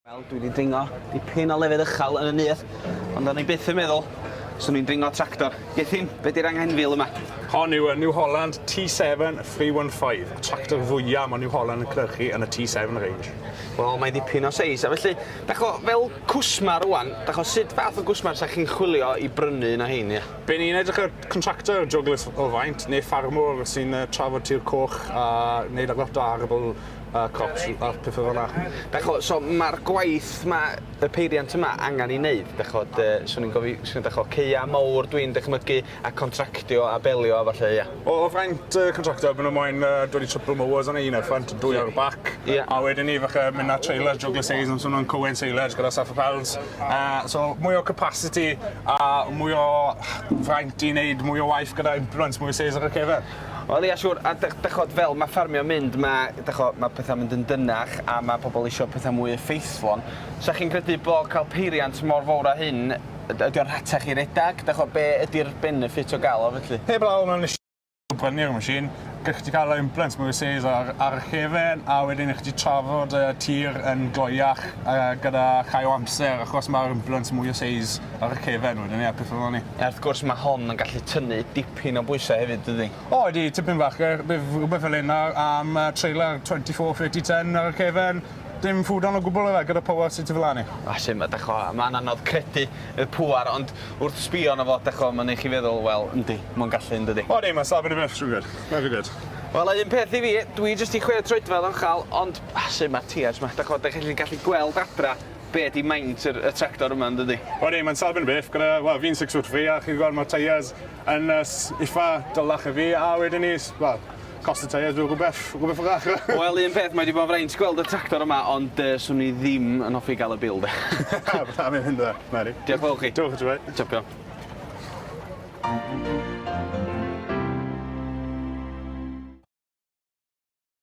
Wel, dwi wedi dringo dipyn o lefydd uchel yn y nyth, ond o'n i byth yn meddwl swn i'n dringo tractor. Gethin, be di'r anghenfil yma? Hon yw y New Holland T7 315, y tractor fwyaf mae New Holland yn cynhyrchu yn y T7 range. Wel, mae dipyn o seis, a felly, dach o, fel cwsmar rwan, dach o, sut fath o gwsmar sa chi'n chwilio i brynu un o hein, ie? Be ni'n edrych ar Contractor, joglys o faint, neu ffarmwr sy'n trafod tir coch a neud lot o arable crops a petha fel 'na. Dach ch'mo', so ma'r gwaith 'ma, y peiriant yma, angan 'i neud, dach ch'mod, yy swn i'n gofi- swn i'n dach ch'mo', caea' mowr dwi'n dychmygu, a contractio a belio a ballu, ia? O o fraint y contractor, ma' nw moyn yy dod i triple mowers arni, un ar y ffrynt a dwy ar y bac. Ie. A wedyn 'ny falle myn' â trailer joglys seis, ma' swn nw'n cywain silage gyda saffa pals. Uh, so mwy o capacity a mwy o fraint i wneud mwy o waith gyda implements, mwy o sales ar y cefen. Wel ia siwr, a dychod fel mae ffarmio'n mynd, mae, dychod, mae pethau'n mynd yn dynach a mae pobl eisiau pethau mwy effeithlon. Sa chi'n credu bod cael peiriant mor fawr a hyn, ydy o'n rhatach i redag? Dychod, be ydy'r benefit o gael o felly? Heb law mewn prynu'r machine, gallwch chi cael yr implants mwy seis ar, ar y cefn, a wedyn chi trafod y tir yn gloiach uh, gyda chai o amser, achos mae'r implants mwy o seis ar y cefn wedyn, ie, pethau fel ni. A wrth gwrs mae hon yn gallu tynnu dipyn o bwysau hefyd, dydy? O, ydy, tipyn bach, bydd rhywbeth fel hyn ar, am uh, trailer 24, 30, 10 ar y cefn, Dim ffwdan o gwbwl yfe gyda pŵar sy tu flan i? O sim, a dach 'mo', ma'n anodd credu y pŵar ond wrth sbio arno fo, dach 'mo', ma'n neu' chi feddwl, wel, yndi, ma'n gallu yndydi? O yndi, ma'n safon i fyth, siŵr gyd. Very good. Wel, a un peth i fi, dwi jyst i chwe troedfedd o'n chal, ond, a sim, ma'r teiars 'ma, dach 'mo', dach chi'n gallu gweld adra be' 'di maint yr y tractor yma yndydi? O yndi, ma'n safon i fyth gyda, wel, fi'n six foot three a chi gwel' ma'r teiars Yn nes ifa, dylech fi, a wedyn ni, wel, cost y tyres rhyw rhywbeth, rhywbeth fach. Wel, un peth, mae wedi bod yn fraint gweld y tractor yma, ond yy, swn i ddim yn hoffi gael y bil, de. Na, mae'n mynd dda, Mari. Diolch fawr chi. Diolch, Joe. Champion.